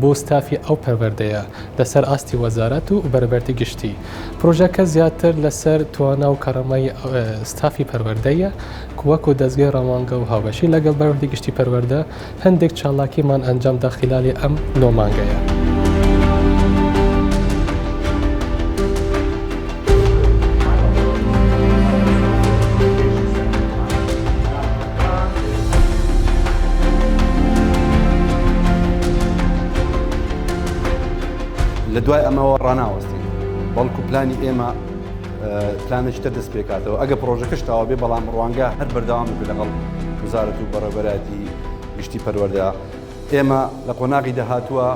بۆ ستافی ئەو پەروەردەیە لەسەر ئاستی وەزارەت و بەربەردی گشتی. پرۆژەکە زیاتر لەسەر توانا و کەڕەمەی ستافی پەروەردەیە ک وەکو دەزگەی ڕەوانگە و هاوبەشی لەگەڵ بەربەردی گشتی پەروەردە هەندێک چالاکیمان ئەنجام دا خیلالی ئەم نۆ مانگەیە. لە دوای ئەمەوە ڕناوەستین بەڵکو پلانی ئێمە پلانێکی تر دەست پێکاتەوە ئەگە پرۆژەکەش تاوا بێ بەڵام ڕوانگە هەر بەردەوام بێ لەگەڵ وزارەت و بەڕێبەراتی گشتی پەروەەردە ئێمە لە قۆناغی دەهاتووە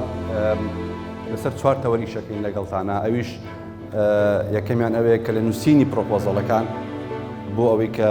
لەسەر چوار تەوەری شەکەین لەگەڵتانە ئەویش یەکەمیان ئەوەیە کە لە نووسینی پرۆپۆزەڵەکان بۆ ئەوەی کە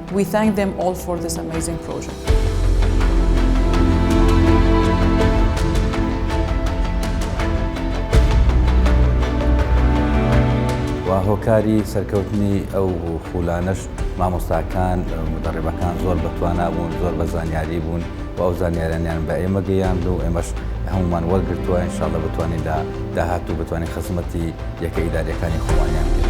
We thank them all for this amazing project. و هۆکاری سەرکەوتنی ئەو خولانەش مامۆستاکان مدەڕێبەکان زۆر بەتوانا بوون زۆر بە زانیاری بوون و ئەو زانیارانیان بە ئێمە گەیاند و ئێمەش هەمومان وەرگتووە انشاءاللە بتوانین لە داهاتوو بتوانین خزمەتی یەکە ئیداریەکانی خۆمانیان پێ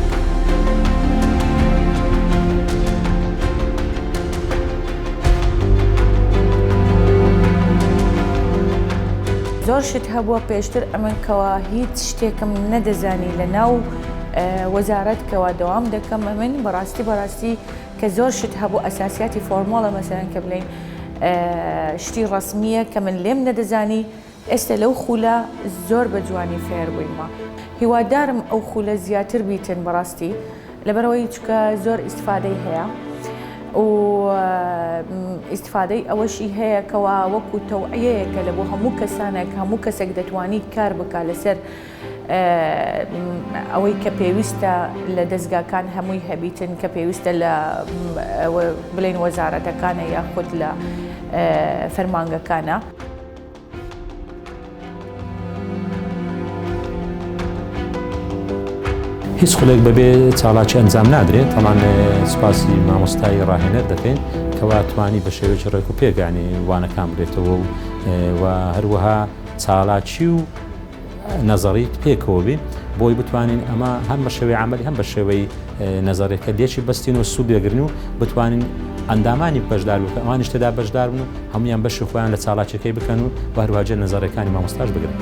زۆر شت هەبووە پێشتر ئەمن کەوا هیچ شتێکم نەدەزانی لە ناو وەزارەت کەوا دەوام دەکەم ئەمن بەڕاستی بەڕاستی کە زۆر شت هەبوو ئەساسیاتی فۆرمۆڵە مەسەرەن کە بڵین شتی ڕسمیە کە من لێم نەدەزانی ئێستە لەو خولە زۆر بە جوانی فێر بوویمە هیوادارم ئەو خولە زیاتر بیتن بەڕاستی لەبەرەوەی چکە زۆر ئیسفادەی هەیە و ئیسفادەی ئەوەشی هەیە کەوا وەکو تەوعەیەکە لە بۆ هەموو کەسانێک هەموو کەسێک دەتوانی کار بکە لەسەر ئەوەی کە پێویستە لە دەستگاکان هەمووی هەبیتن کە پێویستە لە بلین وەزارەتەکانە یاخود لە فەرمانگەکانە. هیچ خولێک بەبێ چاڵاکی ئەنجام نادرێت تەمان سوپاسی مامۆستایی ڕاهێنەر دەکەین کەوا توانی بە شێوەی ڕێک و پێگانی وانەکان بێتەوە و هەروەها چاڵاکی و نەزەڕیت پێکەوە بێ بۆی بتوانین ئەمە هەم بە شێوەی عمل هەم بە شێوەی نەزەرێکە دێکی بەستین و سوودێگرن و بتوانین ئەندامانی بەشدار و ئەوانی شتدا بەشدار بن و هەمویان بەشی خۆیان لە چاڵاکیەکەی بکەن و بەروواجە نەزەرەکانی مامۆستاش بگرن.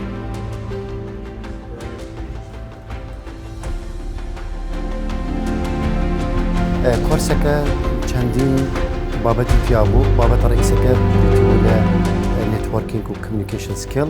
کۆرسەکە چەندین بابەتی پیاو بوو بابەتە ڕئیسەکە لە نێتوەرکینگ و کمیکیشن سکیل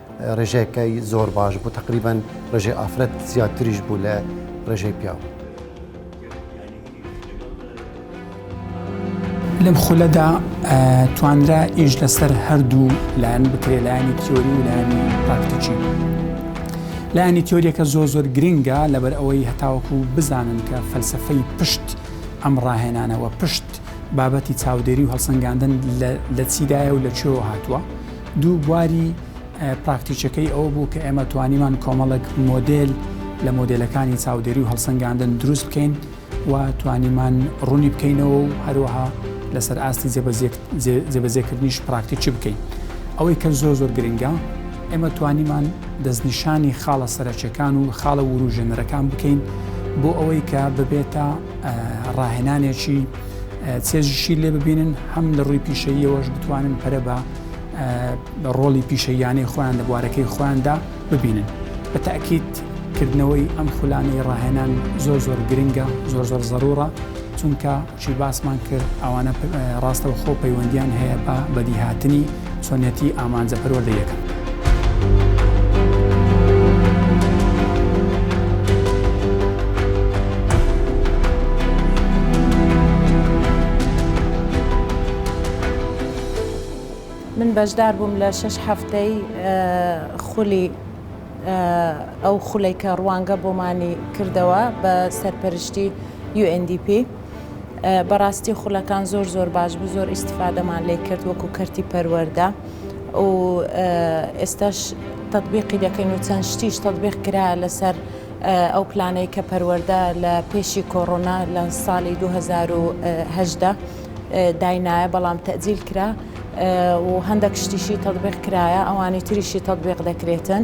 ڕێژەکەی زۆر باش بوو تقریبان ڕێژەی ئافرەت زیاتریش بوو لە ڕێژەی پیاو. لەم خولەدا توانرا ئیش لەسەر هەردوو لایەن بکرێ لایانی تیۆری و لایانی پراکتیکی لایانی تیۆریەکە زۆر زۆر گرنگە لەبەر ئەوەی هەتاوەکو بزانن کە فەلسفەی پشت ئەم ڕاهێنانەوە پشت بابەتی چاودێری و هەڵسەنگاندن لە چیدایە و لە چێوە هاتووە دوو بواری پراکتیکیەکەی ئەوە بوو کە ئێمە توانیمان کۆمەڵک مۆدل لە مۆدلەکانی چاودێری و هەڵسەنگاندن دروست بکەین و توانیمان ڕوونی بکەینەوە و هەروەها لەسەر ئاستی جێبەجێکردنیش پراکتیکی بکەین ئەوەی کە زۆر زۆر گرنگە ئێمە توانیمان دەستنیشانی خاڵە سەرەکیەکان و خاڵە وروژێنەرەکان بکەین بۆ ئەوەی کە ببێتە ڕاهێنانێکی چێژیشی لێ ببینن هەم لە ڕووی پیشەییەوەش بتوانن پەرە بە ڕۆڵی پیشەیانەی خۆیان لە بوارەکەی خۆیاندا ببینن بە تاکیت کردنەوەی ئەم خولانەی ڕاهێنان زۆر زۆر گرنگە زۆر زۆر زەرورە چونکە چی باسمان کرد ئەوانە ڕاستەوە خۆ پەیوەندیان هەیە بە بەدیهاتنی چۆنێتی ئامانجە پەروەردە یەکەم. من بەشدار بووم لە شەش هەفتەی خولی ئەو خولەی کە ڕوانگە بۆمانی کردەوە بە سەرپەرشتی UNDP. بەڕاستی خولەکان زۆر زۆر باش بوو زۆر ئیسیفادەمان لێ کرد وەکو کەرتی پەروەەردە و ئێستاش تەبیقی دەکەین و چەند شتیش تەبیق کرا لەسەر ئەو پلانەی کە پەروەەردە لە پێشی کۆڕۆنا لە ساڵی 2010 داینایە بەڵام تەجیل کرا و هەندێک شتیشی تەبیق کرایە ئەوانی تریشی تەبیق دەکرێتن